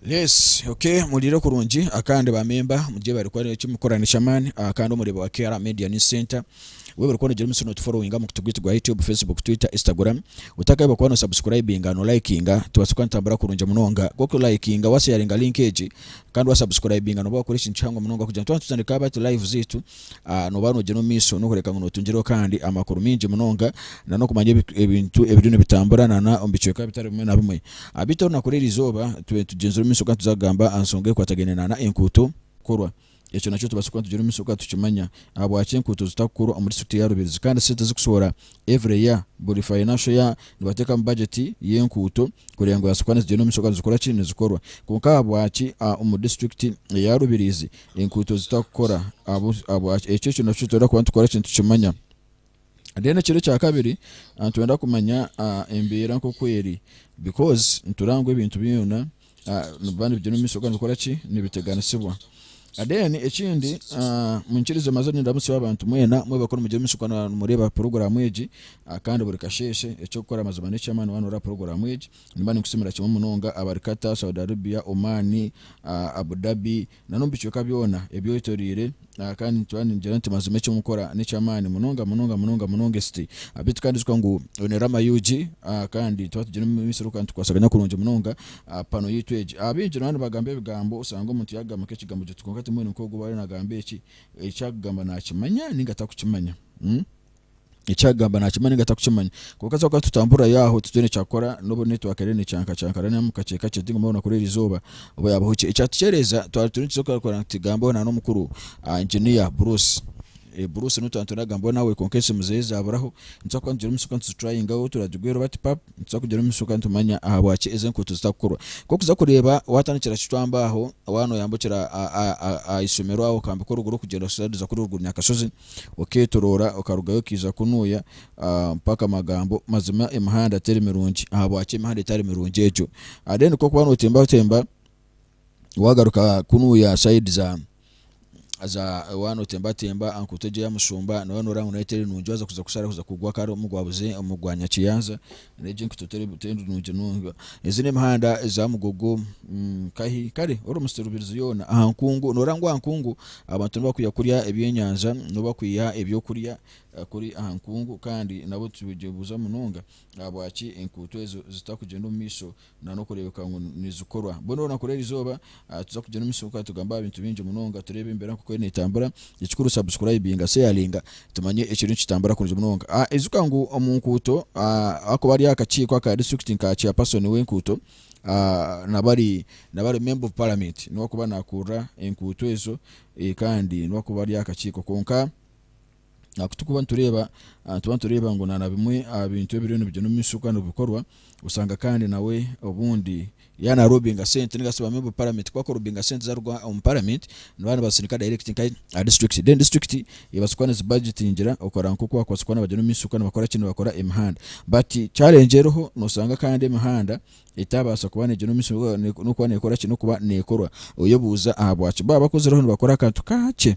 Yes okay muhuriire kurungi kandi ba memba mugye bari kukora eki mukora nekyamaani kandi omureeba wa KR media news center we buri kukora omutsyo no tuforowinga omu mukutu gwaitu gwa YouTube, Facebook, Twitter, Instagram otakahiba kuba no subscribinga no likinga tubaase kuba nitutambura kurungi munonga ku ori ku likinga wa sharinga link egi kandi wa subscribinga noba wakora ekintu kihango munonga kugira ngu twaba nitutandika hati live zaitu nooba noogira omu maisho n'okureebeka ngu nootungiraho kandi amakuru maingi munonga na n'okumanya ebintu ebiriyo nibitambura na n'omu bicweka bitari bimwe na bimwe. Beitu orunaku oru eri izooba tube nitugyenzire omu maisho kandi tuza kugamba aha nshonga ekwatagaine na n'enkuuto kukorwa. Ekyo nakyo tubaasa kuba nitugira omu maisho kandi tukimanya. Ahabwaki enkuuto zitakukorwa omuri disitulikiti ya Rubirizi kandi sente ezikushohora every year, buri financial year nibateekamu budget y'enkuuto kureeba ngu zaabaasa kuba nizigyenda omu maisho kandi nizikora ki? Nizikorwa. Kwonka ahabwaki omuri disitulikiti eya Rubirizi enkuuto zitakukora ekyo ekyo nakyo nitwenda kuba nitukora kye nitukimanya then ekiro ekyakabiri nitwenda kumanya embeera nkoku eri because nitureeba ngu ebintu byoona nibiba nibigyenda omumaisho kandi nibikora ki nibiteganisibwa then ekindi munyikirize maze nindamutsya abantu mweena mwebare kuba nimugyenda omumaisho kuba nimureeba program egi kandi buri kasheeshe ekyokukora mazima nekyamaani waaba noreeba program egi. Nimba ninkusiimira kimwe munonga abari Qatar, Saudi Arabia, Oman, Abu Dhabi, n'omu bicweka byona ebyetoreire, kandi ningira ningira nti mazima eki mukora n'eky'amaani munonga munonga munonga munonga esiti abu tukarinzika ngu oine Rama UG kandi twaba tugine omumiisiri oku nitukwasaganya kurungi munonga aha pano yaitu egi. Abaingi nooba nibagamba ebigambo osanga omuntu yaagamba nk'ekigambo gito kwonka timuhwine nk'ogu waaba ariyo naagamba eki, eki arikugamba naakimanya nainga tarikukimanya. Eki arikugamba naakimanya ninga tarikukimanya. Kwonka twaba tutamburira Yahwe titwine eki arikukora n'obu naitwe hakaire nicankacankana nainga mukakye kakye ti ngu mbwenu nakurora erizooba oba yaabaho ki. Ekyatukyereeza twaba twine eki turikwenda ngu tugambeho na n'omukuru Engineer Bruce. Bruce niwe twaba nitwenda kugambaho nawe kwonka esimu zeye zaaburaho. Nitubaasa kuba nitugira omu mitsyo kandi tuzitrayingaho turagigweera oba tipapu, nitubaasa kugira omu mitsyo kandi tumanya ahabwaki ezi enkuuto zitakukorwa. Nk'okuza kureeba waatandikira Kitwamba aho waaba nooyambukira aha ishomero aho okambika oruguru kugyenda kuza kuri oruguru Nyakashozi, okeetoroora okarugayo okaija kunuuya mpaka amagambo mazima emihanda teri mirungi. Ahabwaki emihanda etari mirungi egyo? Then ku orikuba nootembatemba waagaruka kunuuya side za za waaba nootembatemba aha nkuuto egyo eya Mushumba nooba nooreeba ngu nayo teri nungi waaza kuza kusharaho kuza kugwa kare omu gwa Nyakiyanza Reero egyo enkuto teri nungi munonga. Ezi n'emihanda eza mugogo. Nkahi? Kare, ori omu siturubirizi yoona. Aha nkungu, nooreeba ngu aha nkungu abantu nibakwiha kurya ebyenyanja, nibo bakwiha ebyokurya kuri aha nkungu. Kandi nabwo twibuuza munonga ahabwaki enkuuto ezo zitakugyenda omu maisho na n'okureebeka ngu nizikorwa. Mbwenu orunakuru eri izooba tuza kugira omu isimuka tugambe aha bintu bingi munonga, tureebe embeera nk'oku eriyo neetambura. Ekikuru subscribinga, sharinga tumanye ekiriyo nikitambura kurungi munonga. Ijuka ngu omu nkuuto akuba ari aha kakiiko aka disiturikiti nka chairperson w'enkuuto naba ari naba ari member of parliament niwe akuba naakurura enkuuto ezo kandi niwe akuba ari aha kakiiko. Kwonka. Ahakuba tikuba nitureeba nituba nitureeba ngu na bimwe aha bintu ebiriyo nibigyenda omu maisho kandi nibikorwa, oshanga kandi nawe obundi yaaba naarobinga sente ninga shi bamwe omu paramenti ku barikurobinga sente zaaruga omu paramenti nibaba nibazisindika dayirekiti nka aha disiturikiti then disiturikiti ebaasa kuba nizibajetingira okureba nk'oku baakubaasa kuba nibagyenda omu maisho kandi nibakora ki nibakora emihanda. But challenge eriho noshanga kandi emihanda etaabaasa kuba neegyenda omu maisho n'okuba neekora ki n'okuba neekorwa, oyebuuza ahabwaki baaba bakozireho nibakora akantu kakye.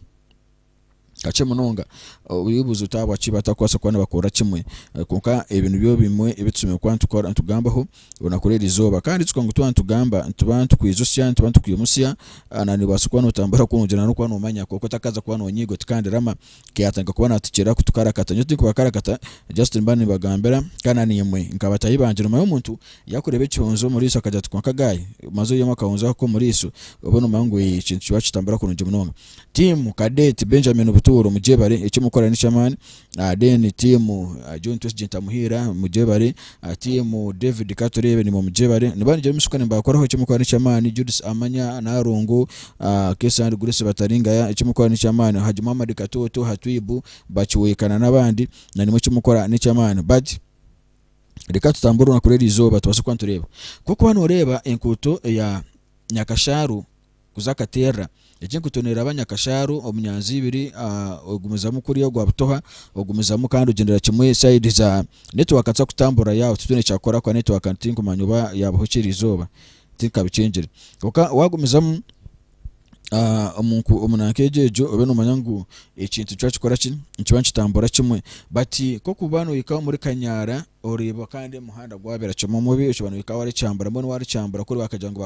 Kakye munonga oyibuuza oti ahabwaki batakubaasa kuba nibakorera kimwe. Kwonka ebyo nibyo bimwe ebi tusemeriire kuba nitukora nitugambaho orunaku rw'eri izooba. Kandi ijuka ngu twaba nitugamba nituba nitukwijutsya, nituba nitukwimutsya na noobaasa kuba nootambura kurungi na n'okuba noomanya kwonka otakaabaasa kuba noonyiiga oti kandirama ka yaatandika kuba naatukyera kutukarakata. Nyowe tindikubakarakata just nimba nimbagambira kandi na naimwe nka bataahi bangye noomayo omuntu yaakureeba ekihunzi omu riisho akagira ati kwonka guy maze oihamu akahunzi ako k'omu riisho obe noomanya ngu eeh ekintu nikitambura kurungi munonga. Team cadet Benjamin Butuuru mugyebare eki mukora nekyamaani ah, then team ah, John Twesigye Ntamuhiira mugyebare ah, team David Katureebe nimwe mugyebare niba nigira emishuka nimbakoraho eki mukora nekyamaani Judith Amanya Nalongo ah, Kesa and Grace Bataringaya eki mukora nekyamaani Haji Muhammad Katooto Hatwibu Bakiweeka na n'abandi na nimwe eki mukora nekyamaani but reka tutamburire na kuri eri izooba tubaase kuba nitureeba ku orikuba noreeba enkuuto eya Nyakashaaru kuza akaterra. Egi enkuuto neeraba Nyakashaaru omu nyanza ibiri, ogumizamu kuriya ogwa butoha, ogumizamu kandi ogyendera kimwe side za network nitubaasa kutamburirayo aho titwine ekyakukora ahabw'okuba network tinkumanya oba yaabaho ki erizooba, tinkabikyengire. Kwonka waagumizamu omu omu nanka egyo egyo obe noomanya ngu ekintu nikikora ki, nikiba nikitambura kimwe. But nk'okuba noohika omuri Kanyaara, Oreeba kandi omuhanda gwabera kimwe mubi okiba nohika warikyambura mbwenu warikyambura kuri bakagira ngu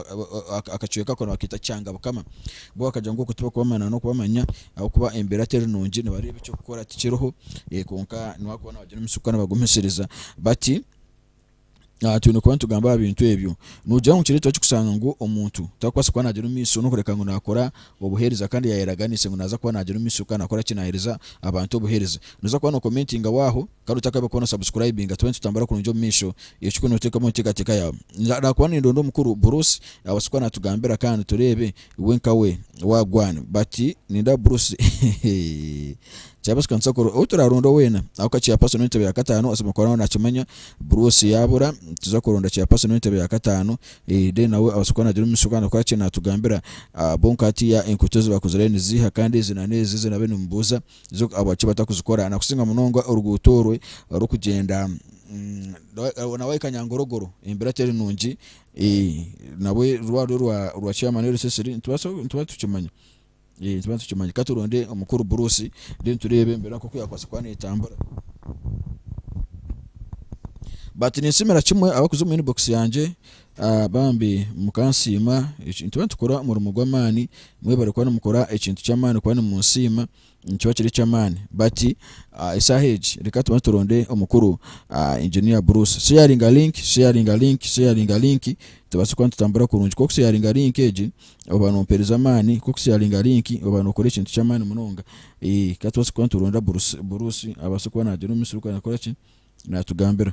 akacweka ako nibaketa kyanga bukama bo bakagira ngu oku tibakubamanya nokubamanya ahakuba embera teri nungi nibareeba ekyokukora tikiriho kwonka nibakuba nibagira omutsiko kwonka nibagumisiriza bati twine kuba nitugamba ahabintu ebyo nogira ngu nikireetwa ki kushanga ngu omuntu tarikubaasa kuba nagyenda omumaiso nokureeba ngu nakora obuheereza kandi yayeraganise ngu naza kuba nagyenda omumaiso kandi nakoraki nahereza abantu obuheereza noza kuba no commentingaho aho Kare otakabaire okora na subscribinga tube nitutambura kurungi omu maisho ekyo kunu otekemu omu ntekateka yawe narakuba nindonda omukuru Bruce abase kuba natugambira kandi turebe iwe nkawe wagwan but nindaba Bruce hehehehe chairperson kanisa kora ou turaronda wena ahabwokuba chairperson wentebe ya katano asemeriire kuba nawe nakimanya Bruce yabura nituza kuronda chairperson wentebe ya katano then nawe abase kuba nagira omumisho kandi akore ki natugambira ahabwonka hatiya enkuuto ezibakozire niziiha kandi ezi na nezi ezinabaire nimubuza zo ahabwaki batakuzikora nakusinga munonga oruguuto orwe orikugyenda na wayi kanyangorogoro embeera teri nungi nabwe rurwaarwe rwa chairman wa RSSD nitubaasa tukimanya nitubaasa tukimanya katuronde omukuru Bruce then tureebe embeera nkoku yakubaasa kuba netambura but ninsiimira kimwe abarikuza omu inbox yangye Bambi mukansiima ekintu nitukora omurimo gw'amaani, mwebare kuba nimukora ekintu ky'amaani kuba nimunsiima nikiba kiri eky'amaani. But esaaha egi reka tubanze turonde omukuru Engineer Bruce. Sharinga link, sharinga link, sharinga link tubaase kuba nitutambura kurungi. Ku okusharinga link egi oba nompereza amaani, ku okusharinga link oba nokora ekintu ky'amaani munonga. Ka tubaase kuba nituronda Bruce abaase kuba naagira omu misiri oku araakoraki, naatugambira.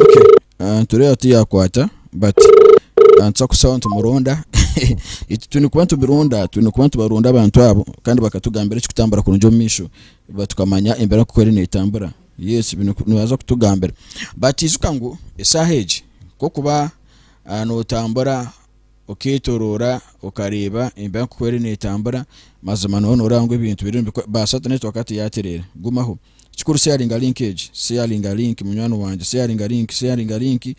okay ah, nitureeba tuyakwata but ah, nituza kusaba nitumurunda Eki- twine kuba nitubirunda twine kuba nitubarunda abantu abo kandi bakatugambira ekikutambura kurungi omu maisho ba- tukamanya embeera nk'oku eri netambura Yesu binu nibaza kutugambira batijuka ngu esaaha egi kokuba notambura oketoroora okareeba embeera nkoku eri netambura mazima noba noreeba ngu ebintu biri ngu ba Satan egi twakaba tuyatereera gumaho kikuru sharinga link egi sharinga link munywani wangye sharinga link sharinga link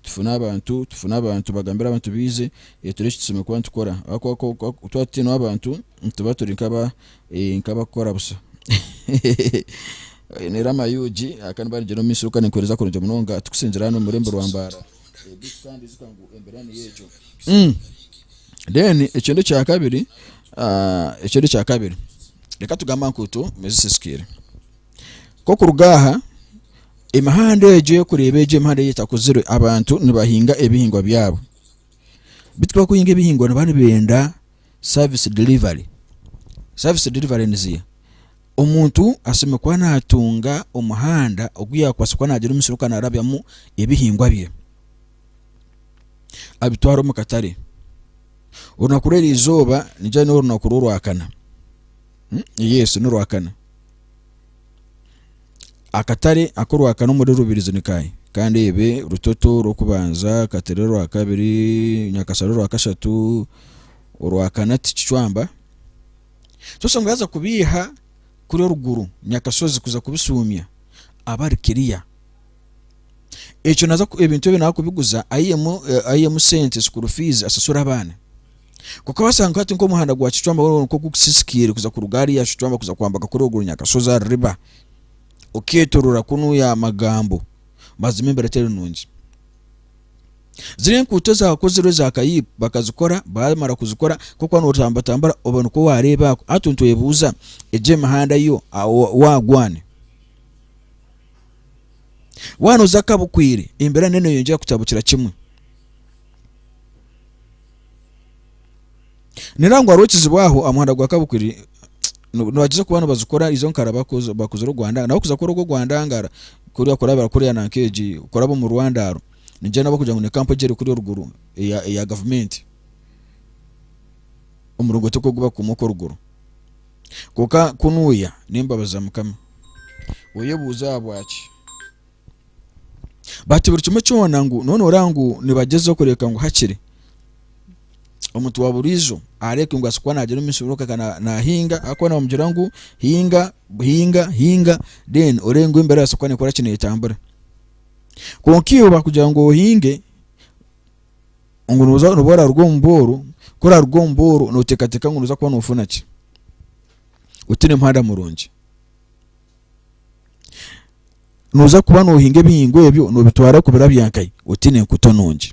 tufune abantu tufune abantu bagambire abantu baize turebe eki tusemeriire kuba nitukora ahabwokuba twaba tutaine abantu. nituba turi nkabakukora busha oyine rama yugi kandi barigyire omumisho kandi nikuhereza kurungi munonga tukusingira hanu omurembo rwa mbara then ekindi ekyakabiri ekindi ekyakabiri reka tugambe aha nkuuto ezisisikaire kokuruga aha emihanda egyo orikureeba egyo emihanda ei etakozirwe abantu nibahinga ebihingwa byabo bitu bakuhinga ebihingwa niba nibenda service delivery service delivery niziha omuntu asemeriire kuba natunga omuhanda ogu yakubaasa kuba nagira omusiri ogu arabyamu ebihingwa bye abitware omu katare orunaku rweri izooba nigira ngu norunaku rworwakana yes norwakana Akatare aku orwakane omuri Rubirizi ni kaaha? Kandeebe, Rutoto orw'okubanza, Katare orwakabiri, Nyakashara orwakashatu, orwakana ti Kicwamba? So oshange yaaza kubeiha kuri oruguru Nyakashozi kuza kubishuumya aba ari kiriya. Ekyo naaza, ebintu ebyo naaza kubiguza aihemu, aihemu sente, school fees, ashashure abaana. Kukabaasa nka hati nk'omuhanda gwa kicwamba weena kwonka oku gusisikaire kuza kuruga hariya Kicwamba kuza kwambaga kuri ogwo runyakashozi aha ruriba, okeetoroora kunu ya Magambo, baazima embeera etari nungi. Ziri enkuuto ezaakozirwe eza kayiib bakazikora, baamara kuzikora nk'okuba nootambatambura oba nikwo waareeba ako. Hati nitwebuuza egyo emihanda yo waagwa ani? Waanoza akabukwiire, embeera neeyongyera kutabukira kimwe. Nirangwa hariho ekizibu aho aha muhanda gwa Kabukuri nibagyeza kuba nibazikora izo nkara bakuza bakuza oru Rwanda nabo kuza kukora ogwo Rwandangara kuriya kuraba barakorera nanka egi kuraba omu Rwandaaro nigira nabo kugira ngu ni kampu egi eri kuriya oruguru eya eya gavumenti omurongooti ogu ogubakuuma okwo oruguru. Kwonka kunuuya n'embabazi za Mukama. Oyebuuze ahabwaki? bati buri kimwe kyona ngu noona oraba ngu nibagyezaho kureeka ngu hakiri omuntu wa buriijo areeke ngu asobora kuba naagira omu ishomero kwonka naahinga ahakuba nibamugira ngu hinga hinga hinga then oreebe ngu embeera yawe esobora kuba neekora ki neetambura kwonka iwe baakugira ngu ohinge ngu nooza nooba oraruga omu booro ku oraaruga omu booro nooteekateeka ngu nooza kuba noofuna ki otiine muhanda murungi Nooza kuba noohinga ebihingwa ebyo noobitwara oku bira bya Nkai otiine enkuuto nungi.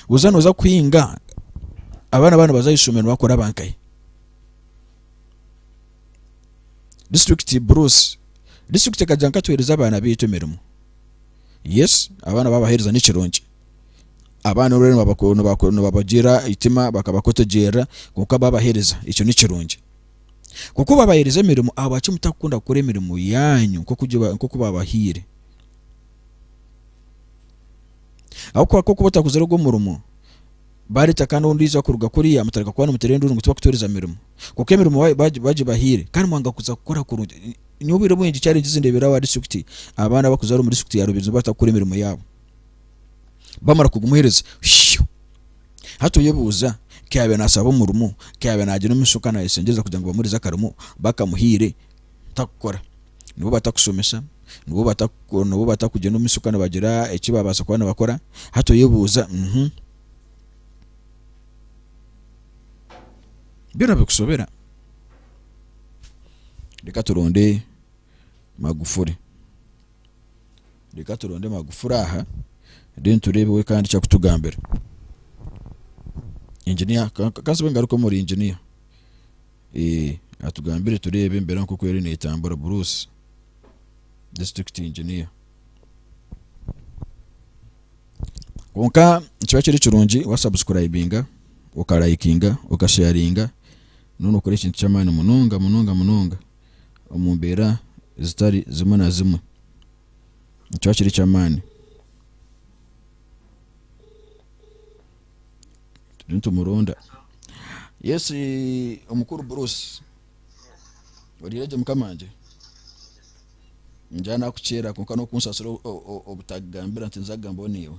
Buza nooza kuhinga abaana baaba nibaza aha ishomero nibakora ba Nkai. Disiturikiti buruusi, disiturikiti ekagira ngu ka tuheereze abaana baitu emirimo. Yes, abaana waabaheereza nikirungi, abaana obu orikuba noobagira eitima bakaba bakutegyerera kwonka waabaheereza ekyo nikirungi. Nk'oku babaheereza emirimo, ahabwaki mutakukunda kukora emirimo yaanyu nk'oku baabahaire? Ahabw'okuba ku okuba otakozire ogwo murimo, baareeta kandi ondiijo kuruga kuriya, mutareka kuba nimuteera enduuru ngu tibakutooreza mirimo. Kwonka emirimo baagibahaire kandi mwanga kuza kukora kurungi. Nyowe obwire bwingi kyarengye nze ndeebere abaana ba disiturikiti abaana abarikuzaara omu disiturikiti ya Rubirizi nibatakukora emirimo yaabo. bamara kugumuhereza shuu hati oyebuuza ku yaabaire naashaba omurimo ku yaabaire naagira omu maisho naayeshengyereza kugira ngu bamuheereze akarimo bakamuhaire tarikukora nibo batakushomesa nibo bataku nibo batakugyenda omu maisho kandi nibagira eki baabaasa kuba nibakora hati oyebuuza byona bikushobera reka turonde Magufuli. Reka turonde Magufuli aha then tureebe we kandi eki arikutugambira. Engineer ka nsibe ngaruke omuri engineer atugambire tureebe embeera nk'oku eriyo neetambura. Bruce, district engineer. Kwonka nikiba kiri kirungi wa subscribinga, okarayikinga, okasheyaringa, nooba nookora ekintu ky'amaani munonga munonga munonga omu mbeera zitari zimwe na zimwe. Nikyo kiri eky'amaani. Turiyo nitumuronda. Yesu omukuru Bruce, oriire gye mukamangye? Ningira naakukyera kwonka n'okunsasira o- o- o- obutagambira nti nza kugambaho naiwe.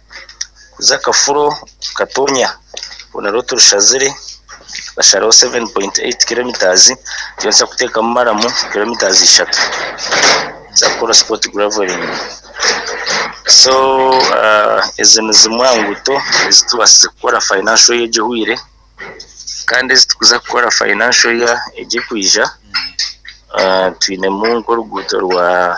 kuza kafuro katonya orwo narwo turushazire tukasharaho 7.8km nitubaasa kuteekamu maramu kilometres ishatu kuza kukora sport gravelling so ezo nizimwe aha nguuto ezi tubaasize kukora financial year egi ehweire kandi ezi turikuza kukora financial year egi erikwija twinemu nk'oruguuto rwa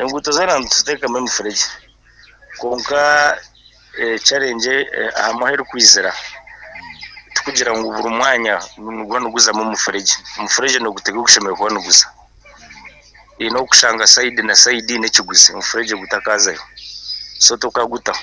Enguuto zoona nituteekamu emifuregye kwonka ekibazo ahamwe ahu erikwizira tikugira ngu buri mwanya nigwo niguzamu omufuregye, omufuregye nigutega ahu gushemereire kuba niguza, haine obu orikushanga sayidi na sayidi haine ekiguzi omufuregye gutakaazayo so tokagutaho.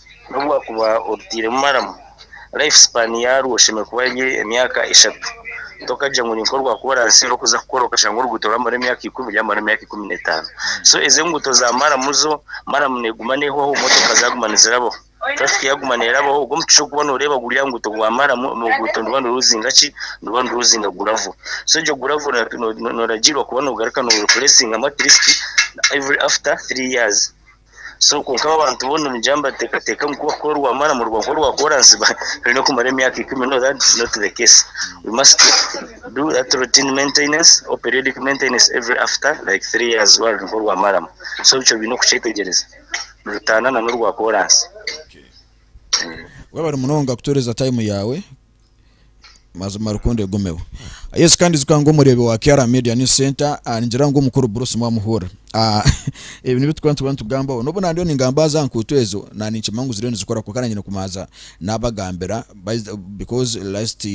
N'obu waakuba orutairemu maramu, life span yaarwo eshemereire kuba eri emyaka eshatu. Tokagira ngu ninka orwakuba oranzire kuza kukora okashanga oruguuto rwamara emyaka ikumi ryamara emyaka ikumi n'etaano. So ezi enguuto za maramu zo, maramu neeguma neehwaho, motoka zaaguma nizirabaho, traffic yaaguma neerabaho, obwo omucucu orikuba nooreeba guri aha nguuto gwa maramu, oruguuto niruba niruruzinga ki? Niruba niruruzinga gravle. So egyo gravle nooragirwa kuba noogaruka noogireplacingamu at least every after three years. so kwonka abo abantu boona nigira nibateekateeka ngu ku orikuba orwamaani omu rwongo rwa kooransi ba- oine kumara emyaka ikumi no that is not the case we must do that routine maintenance or periodic maintenance every after like three years rwaba ruri nk'orwamaramu so nikyo baine kukyetegereza nirutaana na n'orwa kooransi Okay. Webare munonga kutuhereza time yaawe Mazima rukundo egumeho. Yesu kandi ijuka ngu omureebi wa Kiara Media News Center ah, ningira ngu omukuru Bruce mwamuhurira Ah, ebi nibi tukaba nituba nitugambaho n'obu nandiyo ningamba za nkuuto ezo na ninkimanya ngu ziriyo nizikora kwonka nanye nikumanza nabagambira by- because last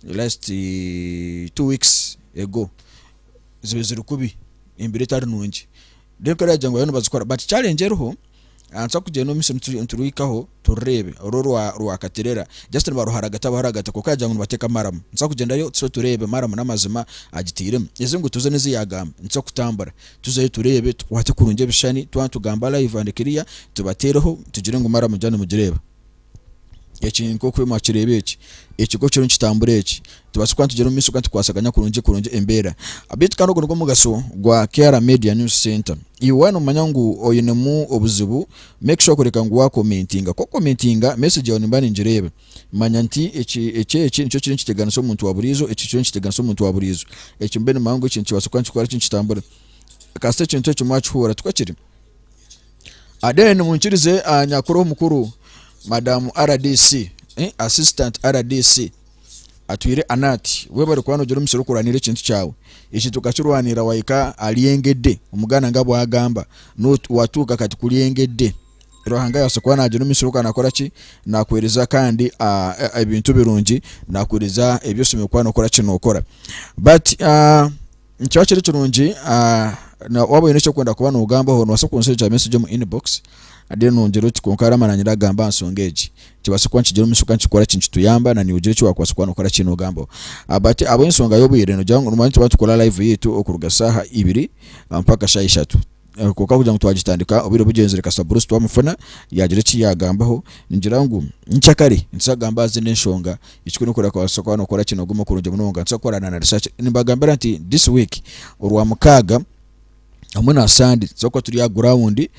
last two weeks ago ziba ziri kubi embiro etari nungi then kare yagira ngu bariyo nibazikora but challenge eriho Nitugyenda omu misiri niturwihaho turireebe oru orwakaterera just nibaruharagata baruharagata kwonka yagira ngu nibateeka maramu nitubaasa kugyendayo tuze tureebe maramu n'amazima agitairemu ezi enguuto zoona ezi yaagamba nituza kutambura tuzeyo tureebe tukwaate kurungi ebishushani twaba nitugamba live and clear tubateereho tugire ngu maramu ngyaba nimugireeba. Eki nk'oku orimo okireeba eki, ekigo kiriyo nikitambura eki, nitubaasa kuba nitugira omu maisho kandi tukwasaganya kurungi kurungi embeera. Beitu kandi ogu nigwo mugasho gwa KR Media News Centre. Iwe waaba noomanya ngu oinemu obuzibu, make sure kureka ngu waakomentinga. Ku okomentinga, message yaawe nimba ningireeba. Manya nti eki eki eki nikyo kiriyo nikiteganisa omuntu wa buriijo, eki kiriyo nikiteganisa omuntu wa buriijo. Eki mbe nimanya ngu eki nikibaasa kuba nikikora ki nikitambura. Kasita ekintu eki mwakihurira, tikwe kiri? Aden munkirize aha nyakuri omukuru madam rdc assistant rdc atwire Annet webare kuba nogira omusiri kurwanira ekintu kyawe ekintu okakirwanira wahika aharyengede omuganda nga bwagamba watuuka kati kuryengede Ruhanga yabaasa kuba nagira omusiri ogu nakoraki nakuhereza kandi ebintu birungi nakuhereza ebi oine kuba nokoraki nokora but. Nikiba kiri kirungi na waaba oine eki orikwenda kuba noogambaho noobaasa kunshuushikira message omu inbox then nongyera oti kwonka Rama naanye naagamba aha nshonga egi kibaase kuba nikigira omuisho kandi kikore ki nikituyamba na naiwe ogire eki waakubaasa kuba nookora ki noogambaho. But ahabw'enshonga y'obwire noogira ngu nimanya nituba nitukora live yaitu okuruga shaaha ibiri mpaka shaaha ishatu. Kwonka kugira ngu twagitandika obwire bugyenzire kasita burusu twamufuna yaagira eki yaagambaho. Ningira ngu nikya kare nituza kugamba aha zindi enshonga, ekikuru n'okureeba ku orabaasa kuba nookora ki noogume kurungi munonga. Nituza kukorana na research. Nimbagambira nti this week, Orwamukaaga hamwe na Sande tuza kuba turi aha guraawundi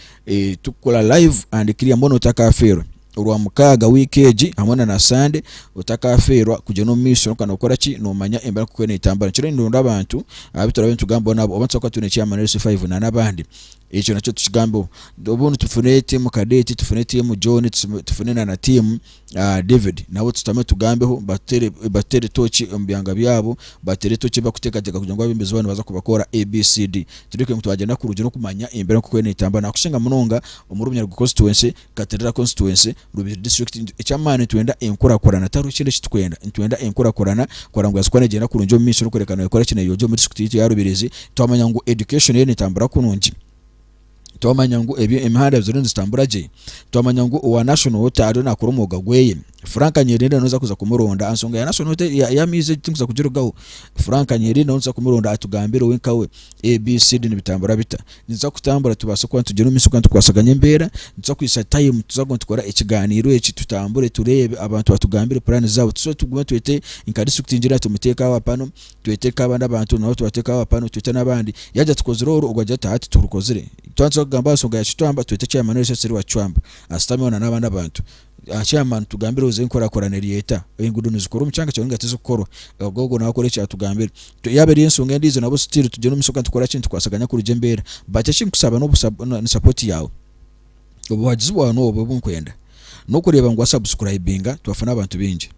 turikukora live and clear mbwenu otakafeerwa. Orwamukaaga wiiki egi hamwe na na Sande otakafeerwa kugyenda omu maisho kwonka nokora ki nomanya embeera nk'oku eriyo netambura nikyo rero nironda abantu abu turabe nitugambaho nabo oba nitubaasa kuba twine ekyama na LC5 na n'abandi ekyo nakyo tukigambeho obundi tufune tiimu Kadeti tufune tiimu John tufune na na tiimu David nabo tushutame tugambeho batuteere batuteere tooki omu byanga byabo bateere tooki ebi bakuteekateeka kugira ngu abeebembezi baabo nibaza kubakora ABCD tureke ngu twagyenda kurugyeryo kumanya embeera nk'oku eriyo netambura nakushinga munonga omuri Bunyaruguru Constituency Katerera Constituency, Rubiri District, Eky'amaani nitwenda enkurakurana tihariho ekindi eki turikwenda, nitwenda enkurakurana kora ngu Asiko neegyenda kurungi omu maisho n'okworeka ngu neekora ki neeyongyera omu district yaitu ya Rubiri ezi twamanya ngu education eriyo neetambura kurungi, twamanya ngu emihanda ziriyo nizitambura gye, twamanya ngu owa National Water ariyo naakora omwoga gwe. Frank Nyirenda noza kuza kumuronda ansonga ya national te- ya- y'amaizi egi tinkuza kugirugaho Frank Nyirenda noza kumuronda atugambire we nkawe ABCD nibitambura bita niza kutambura tubaase kuba nitugire omu maisho kandi tukwasaganye embeera nituza kwitsa time tuza kuguma nitukora ekigaaniiro eki tutambure tureebe abantu batugambire puraani zaabo tuze tugume twete nka disiturikiti ngira ati muteeke aba panu twete nk'abandi abantu nabo tubateeke aba panu twete n'abandi yaagira tukozire oru ogwo agira ati hati turukozire twatuza kugamba aha nsonga ya Kicwamba twete chairman wa SSR wa Kicwamba ashutameho na n'abandi abantu Ahaky'amaani tugambire oze enkorakorana eri eta? Engudo nizikora omucanga kyonka nga tizikukorwa ahabw'okuba ogwo nawe akora ekyatugambire. Yaba eri ensonga endijo nabwo still tugyenda omumaisho kandi tukoraki nitukwasaganya kurugye embeera. But ekinkusaba no ni support yawe. Obuhagizi bwawe nobwo obunkwenda. Nokureba ngu wa subscribinga twafuna abantu bingi.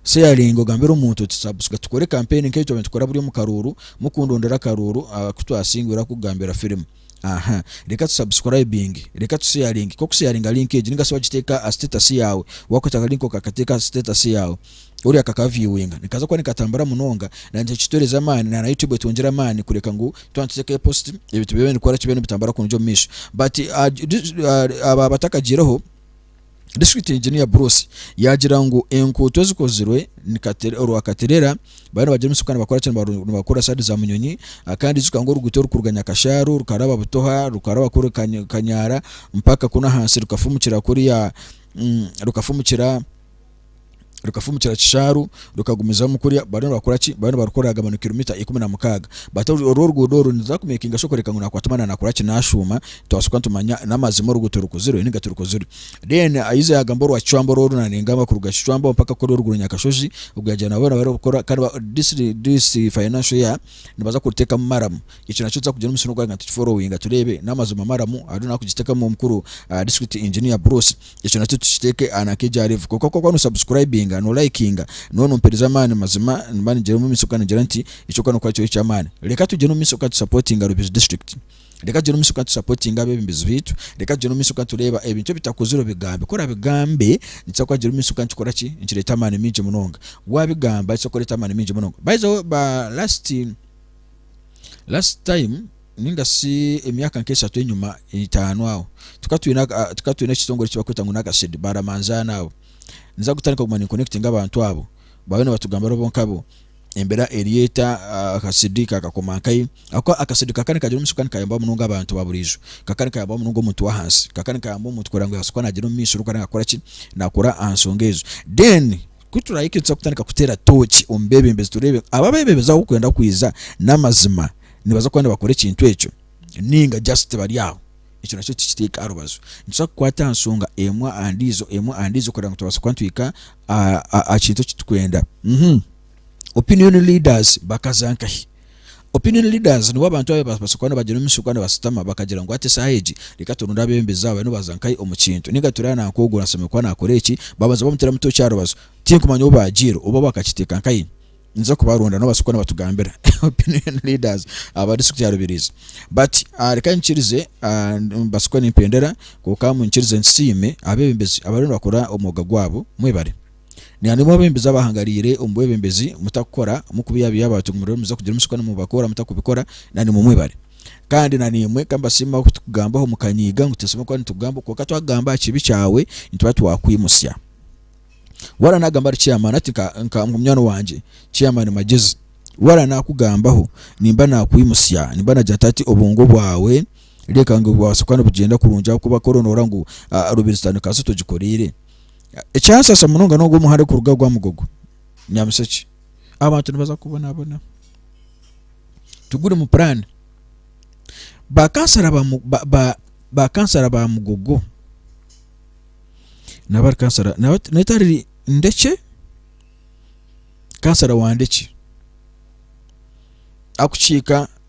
Sharing ogambire omuntu oti subscri tukore campaign nkeyi twaba nitukora buri omu karuuru mukundondera akaruuru akutwasingwire akugambira firimu. Aha. Reka tu subscribing. Reka tu sharing. Ku okusharinga link egi ninga shi wagiteeka aha status yaawe, waakwata aka link okakateeka aha status yaawe, oriya akaka viewinga nikaza kuba nikatambura munonga na nikyo nikituhereza amaani na na YouTube etwongyere amaani kureka ngu twaba nituteekayo post ebintu bibe nibikora ki? Bibe nibitambura kurungi omu maisho. But aba abatakagiireho. District Engineer Bruce yaagira ngu enkuuto ezikozirwe ni Katere- orwa Katerera bariyo nibagira omusigu kandi nibakora ki nibaru- nibakora saadi za Munyonyi Ah, kandi ijuka ngu oruguuto orukuruga Nyakashaaru rukaraba Butoha rukaraba kuri Kany- Kanyara mpaka kunu ahansi rukafumukira kuriya mm, rukafumukira rukafumukira Kishaaru rukagumizamu kurya bariyo nibakora ki bariyo nibarukora agamba ni kiromita ikumi na mukaaga but oru oruguudo oru niruza kumekinga shi okureka ngu nakwata omwana nakora ki nashuuma twashuuka nitumanya n'amazima oruguuto rukozirwe ninga tirukozirwe then ayize yagamba orwa Kicwamba orworu naningamba kuruga Kicwamba mpaka kuri oruguru Nyakashozi ogu yagira ngu naabo nibabaasa kukora kandi ba this this financial year nibaza kurutekamu maramu. Ekyo nakyo tuza kugira omushana ogwagenda tukiforowinga tureebe n'amazima maramu hariho n'arikugiteekamu omukuru District Engineer Bruce. Ekyo nakyo tukiteeke aha nanka egya Level. Kwonka kw'okuba no subscribinga, no likinga, nooba nompeereza amaani mazima nimba nigira omu maisho kandi ningira nti eky'okukora n'okukora kiri eky'amaani. Reka tugyende omu maisho kandi tu supportinga Rubaju District. Reka tugyende omu maisho kandi tu supportinga abeebembezi baitu. Reka tugyende omu maisho kandi tureeba ebintu ebitakozire obigambe. Ku orabigambe nikiza kugira omuisho kandi nikikora ki? Nikireeta amaani maingi munonga. Waabigamba nikiza kureeta amaani maingi munonga. By the way ba last. Last time ninga shi emyaka nk'eshatu enyima itaano aho tukaba twine tukaba twine ekitongore eki bakweta ngu n'akashedi baramanzaana abo niza kutandika kuguma ni connectinga abantu abo baabe nibatugamba abo bonka abo embera eri eta akashedi kakakoma nkahi ahabw'okuba akashedi ka kare nikagira omuisho kandi nikayamba munonga abantu ba buriijo ka kare nikayamba munonga omuntu w'ahansi ka kare nikayamba omuntu kureba ngu yaabaasa kuba naagyenda omu maisho orikureeba ngu akora ki naakora aha nshonga ezo then Ku turahika nituza kutandika kuteera tooki omu beebembezi tureebe abu abeebembezi abu barikwenda kwija n'amazima nibaza kuba nibakora ekintu ekyo nainga just bari aho. Ekyo nakyo tukiteeke aha rubaju. Nituza kukwata aha nshonga emwe aha ndiijo emwe aha ndiijo kugira ngu tubaase kuba nitwihika aha kintu eki turikwenda. Opinion leaders bakaza nkahi? Opinion leaders nibo abantu abu barabaasa kuba nibagira omu maisho ku nibashutama bakagira ngu hati eshaaha egi reka turonde abeebembezi aba bariyo nibaza nkahi omu kintu ninga turi aha nanka ogu ashemereire kuba naakora eki babanza bamuteeramu tooki aha rubaju tinkumanya obu baagiire oba bakakiteeka nkahi ninza kubaronda nibabaasa kuba nibatugambira opinion leaders aba district ya Rubirizi but reka nyikirize nimbaasa kuba nimpendera kwonka nyikirize nsiime abeebembezi abariyo nibakora omwooga gwaabo mwebare. Nainwe abebembezi abahangariire omu bwebembezi, mutakukora, mukubiyabiya abantu ngu muriyo nimuza kugira omutsiko na mubakora mutakubikora, nainwe mwebare. Kandi nainwe ka mbasiimeho ku tukugambaho mukanyiiga ngu titusemeriire kuba nitukugambaho, kwonka twakugamba aha kibi kyawe nituba twakwimutsya. Waaba naagamba ahari Chairman ati nka nka ngu munywani wangye Chairman Magyezi waaba naakugambaho nimba naakwimutsya, nimba naagira nti hati obwongo bwawe reeka ngu bubaase kuba nibugyenda kurungi ahabw'okuba ku oroonoora ngu Rubirizi tandika sitwe tugikoreire, Ekyansasa munonga n'ogu omuhanda okuruga Rwamugogo Nyamushekye abantu nibaza kubonabona tiguri mu puraani. Bakansara bakansara ba Mugogo nabari kansara netari Ndekye kansara wa Ndekye akukiika